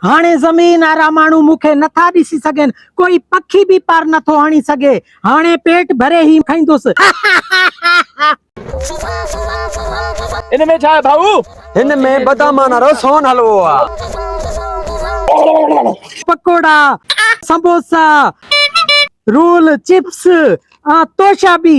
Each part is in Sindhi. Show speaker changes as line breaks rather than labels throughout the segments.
هاڻي زمين وارا ماڻهو مون کي نٿا ڏسي سگهن، ڪوئي پکي به پر نٿو هڻي سگهي. هاڻي پيٽ ڀري هي کائيندس.
ان ۾ ڇا آهي ڀائو؟ هن ۾ بدامان
وارو سون حلوو آهي.
پڪوڙا، سموسا، رول، چپس ۽ توشا به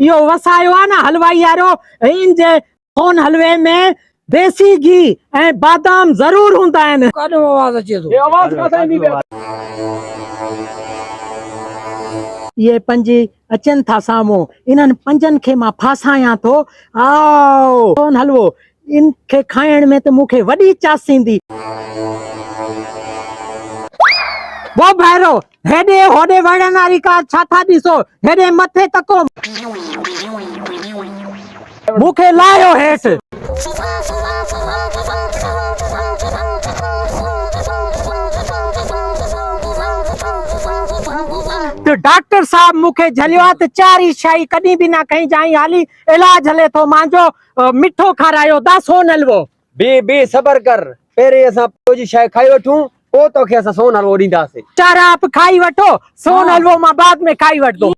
اهو وسايو آ نه حلوائي وارو هين جي سون حلوي ۾ ديسي گهي ۽ بادام ضرور هوندا آهن. ڪاڏو آواز اچي
ٿو.
اهي پنج اچن ٿا سامهون. انهن پنجن کي مان ڦاسايان ٿو. آء سون حلوو ان کي کائڻ ۾ ته مون کي وڏي چاس ايندي. وو ڀائرو! هيڏي هوڏي وڙهڻ واري ڪار ڇا ٿا ڏسو، هيڏي مٿي تڪو. مون کي لاهيو هيٺ. ته ڊاڪٽر صاحب مون کي جهليو آ ته چاري شاهي ڪڏهن به نه کئي جانء هالي علاج هلي ٿو مانجو مٺو کارايو دا سون حلوو. بي بي صبر
ڪر پهرين اسان پيو جي شيء کائي وٺون پوء توکي اسان سون حلوو ڏينداسين. چار آپ کائي
وٺو سون حلوو مان بعد ۾ کائي وٺندوس.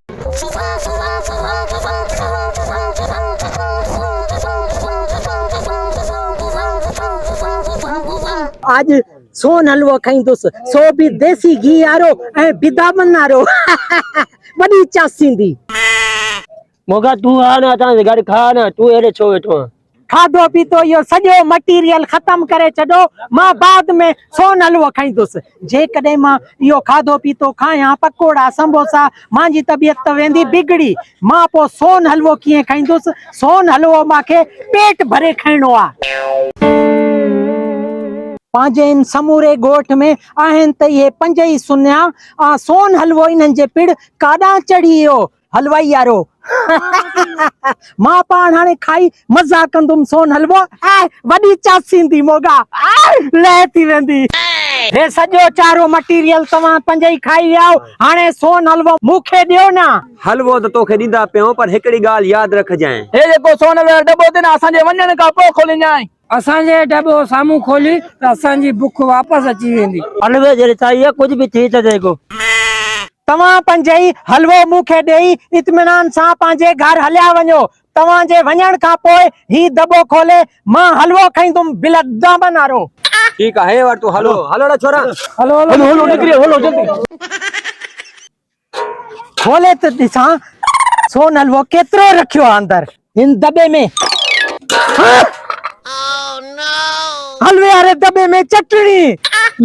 اڄ سون حلوو کائيندوس سو به ديسي گيهه وارو ۽ بدامن وارو وڏي چاسيندي.
موڳا تون آ نه اسان سان گڏ کاء نه تون هيڏي ڇو ويٺو آهين. کاڌو پيتو اهو
سڄو مٽيريل ختم ڪري ڇڏو مان بعد ۾ سون حلوو کائيندس جيڪڏهن مان اهو کاڌو پيتو کايان پڪوڙا سموسا مانجي طبيعت ته ويندي بگڙي مان پو سون حلوو ڪيئن کائيندس سون حلوو مان کي پيٽ ڀري کائڻو آهي. پنهنجي ان سموري ڳوٺ ۾ آهن ته اهي پنج ئي سنيا آ سون حلوو انهن جي پڙ ڪاڏانهن چڙهي اهو حلوائي يارو مان پاڻ هاڻي کائي مزا ڪندم سون حلوو وڏي چاسيندي موڳا لئه ٿي ويندي. هي سڄو چارو مٽيريل توهان پنهنجي ئي کائي ويا آهو هاڻي سون حلوو مون کي ڏيو نه. حلوو ته توکي
ڏيندا پيائون پر هڪڙي ڳالهه ياد رکجانء. هي جيڪو سون حلوي وارو
ڏٻو اٿئي نه اسان جي وڃڻ کان پوء کولينجانء. اسان جي ڊٻو
سامهون کولي ته اسان جي بک واپس اچي ويندي. حلوي جي رسائيء
ڪجهه به ٿي ته سگهو. توهان
پنجئي حلوو مون کي ڏيئي اطمينان سان پنهنجي گهر هليا وڃو. توهان جي وڃڻ کان پوء هي دٻو کولي مان حلوو کائيندم بلدامن وارو. ٺيڪ آهي، هيء وٺ
تون حلوو. هلو اڙا ڇورا! هلو هلو
نڪري هلو جلدي.
کولي ته ڏسان سون حلوو ڪيترو رکيو آ اندر هن دٻي ۾ حلوي واري دٻي ۾ چٽڻي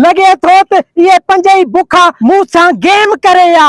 لڳي ٿو ته اهي پنج ئي بکا مون سان گيم ڪري ها.